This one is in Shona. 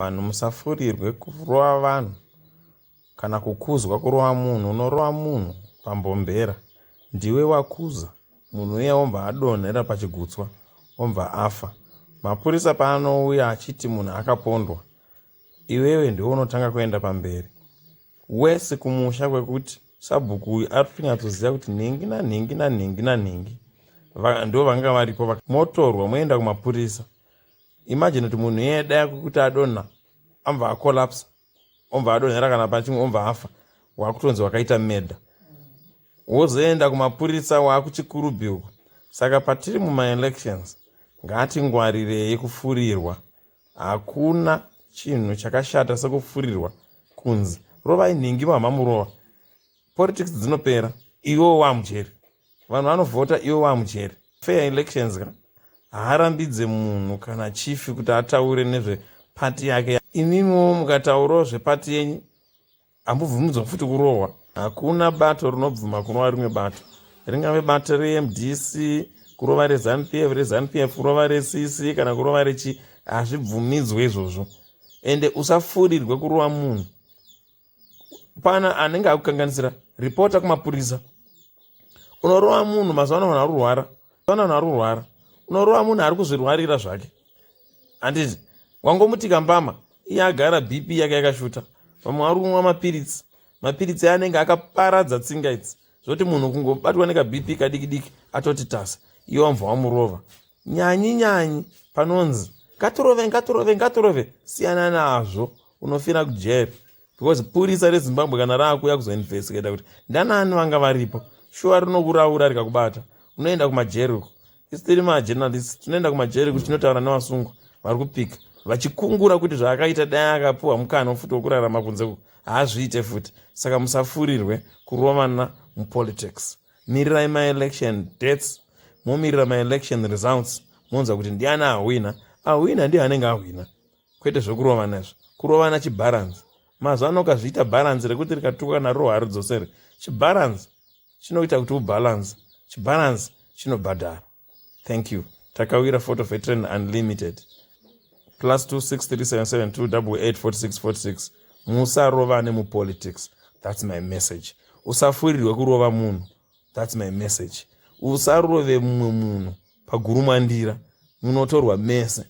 Vanhu musafurirwe kurova vanhu kana kukuzwa kurova munhu unorova munhu pambhombera ndiwe wakuza munhu uya ombva adonhera pachigutswa ombva afa mapurisa paanouya achiti munhu akapondwa iwewe ndiwe unotanga kuenda pamberi wese kumusha kwekuti sabhuku uyu ari kutonyatsoziva kuti nhingi nanhingi nanhingi nanhingi ndo vanga varipo motorwa moenda kumapurisa imagine kuti munhu iye dai kuti adonha ambva acolapsa ombva adonhera kana pana chimwe ombva afa wakutonzi wakaita meda wozoenda kumapurisa wakuchikurubi uko saka patiri mumaelections ngatingwarirei kufurirwa hakuna chinhu chakashata sekufurirwa kunzi rovai nhingi mamhamurova politics dzinopera iwewo wamujeri vanhu vanovhota ivo vamujeri fair elections ka haarambidze munhu kana chifi kuti ataure nezvepati yake imimiwo mukataurawo zvepati yenyu hambobvumidzwa futi kurohwa hakuna bato rinobvuma kurova rimwe bato ringave bato remdc kurova rezanup f rezanup f kurova recc kana kurova rechi hazvibvumidzwe izvozvo ende usafurirwe kurova munhu pana anenge akukanganisira ripota kumapurisa unorova munhu mazuva ano vanhu arurwara mazuva vanhu arurwara unorova munhu ari kuzvirwarira zvake handiti wangomutika mbama iye agara bp yake yakashuta vamwe vari kunwa mapiritsi mapiritsi anenge akaparadza tsinga idzi zvoti munhu kungobatwa nekabp kadiki diki atoti tasa iye wamva wamurova nyanyi nyanyi panonzi ngatirove ngatirove ngatirove siyana nazvo unofira kujeri because purisa rezimbabwe kana raakuuya kuzoinvestigata kuti ndanani vanga varipo shuwa rinokuraura rikakubata unoenda kumajeri uko isu tiri majournalist tinoenda kumajeri kuti tinotaura nevasungwa vari kupika vachikungura kuti zvaakaita dai akapiwa mukana wofuti wokurarama kunze uku haazviite futi saka musafurirwe kurovana mupolitics mirirai maelection dates momirira maelection results monzwa kuti ndiani ahwina ahwina ndiye anenge ahwina kwete zvekurovana izvo kurovana chibharanzi mazuva ano ukazviita bharanzi rekuti rikatukwa naro haridzosere chibharanzi chinoita kuti ubalance chibalance chinobhadhara thank you takawira photo veteran unlimited plus 263772884646 musarovane mupolitics thats my message usafurirwe kurova munhu thats my message usarove mumwe munhu pagurumwandira munotorwa mese